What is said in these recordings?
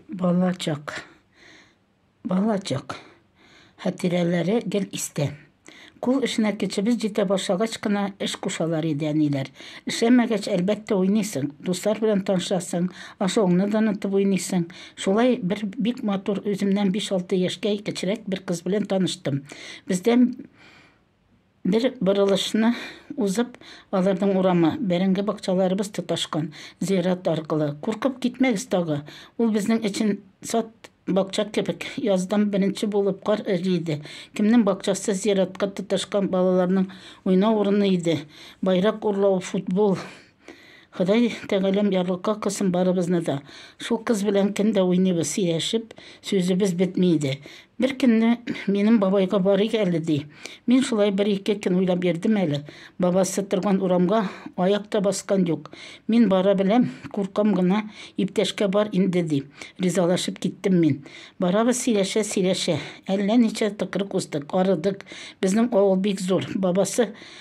Бала чак, бала чак хәтирәләре гел истә. Кул эшенә кечебез җитә башлагач кына эш кушалар иде әниләр. Эшләмәгәч, әлбәттә, уйныйсың, дуслар белән танышасың, ашауыңны да онытып уйныйсың. Шулай бер бик матур, үземнән биш-алты яшькә кечерәк бер кыз белән таныштым. Бездән. Бер борылышны узып, аларның урамы, бәрәңге бакчаларыбыз тоташкан, зират аркылы. Куркып китмәгез тагы! Ул безнең өчен сад, бакча кебек. Яздан беренче булып кар эри иде. Кемнең бакчасы зиратка тоташкан балаларның уйнау урыны иде. Байрак урлау, футбол, Ходай тәгаләм ярлыкка кылсын барыбызны да. Шул кыз белән көн дә уйныйбыз, сөйләшеп, сүзебез бетми иде. Бер көнне минем бабайга барыйк әле ди. Мин шулай бер-ике көн уйлап йөрдем әле. Бабасы торган урамга аяк та баскан юк. Мин бара беләм, куркам гына, иптәшкә бар инде ди. Ризалашып киттем мин. Барабыз сөйләшә-сөйләшә. Әллә ничә тыкрык уздык, арыдык. Безнең авыл бик зур. Бабасы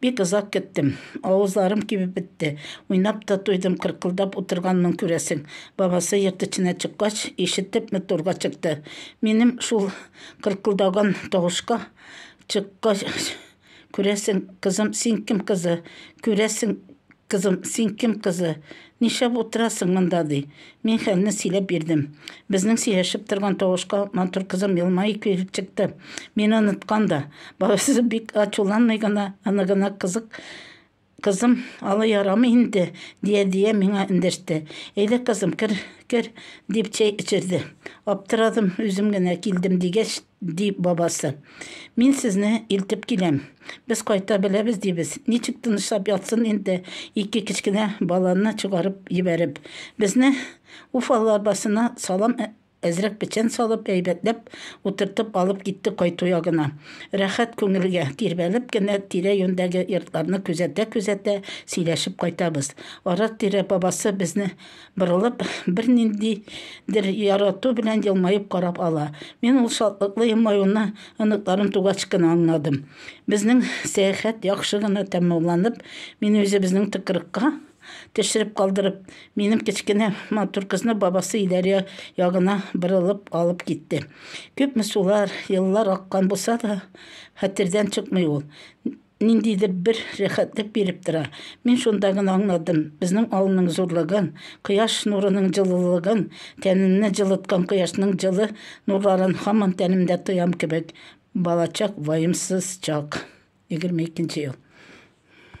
Бик озак көттем. Авызларым кибеп бетте. Уйнап та туйдым, кыркылдап утырганмын, күрәсең. Бабасы йорт эченә чыккач, ишетеп Мөтурга чыкты. Минем шул кыркылдаган тавышка чыккач, күрәсең, кызым, син кем кызы? Күрәсең, Кызым, син кем кызы? Нишләп утырасың монда? ди. Мин хәлне сөйләп бирдем. Безнең сөйләшеп торган тавышка матур кызым елмаеп килеп чыкты. Мине оныткан да. Бабасы бик ачуланмый гына, аны гына кызык Кызым, алай ярамый инде, дия-дия миңа эндәште. Әйдә, кызым, кер, кер, дип чәй эчерде. Аптырадым, үзем генә килдем, дигәч, Ди бабасы. Мин сезне илтеп киләм. Без кайта беләбез, дибез. Ничек тынычлап ятсын инде ике кечкенә баланы чыгарып җибәреп. Безне Уфалы арбасына салам әзрәк печән салып, әйбәтләп утыртып алып китте кайту ягына. Рәхәт күңелгә, тирбәлеп кенә тирә-юньдәге йортларны күзәтә-күзәтә сөйләшеп кайтабыз. Ара-тирә бабасы безне Борылып, берниндидер ярату белән елмаеп карап ала. Мин ул шатлыклы елмаюны оныкларым тугач кына аңладым. Безнең сәяхәт яхшы гына тәмамланып, мине үзе безнең тыкрыкка төшереп калдырып, минем кечкенә матур кызны бабасы Иләрия ягына борылып алып китте. Күпме сулар, еллар аккан булса да, хәтердән чыкмый ул. ниндидер бер рәхәтлек биреп тора. Мин шунда гына аңладым, безнең авылның зурлыгын, кояш нурының җылылыгын, тәнемне җылыткан кояшның җылы нурларын һаман тәнемдә тоям кебек, балачак, ваемсыз чак, егерме икенче ел.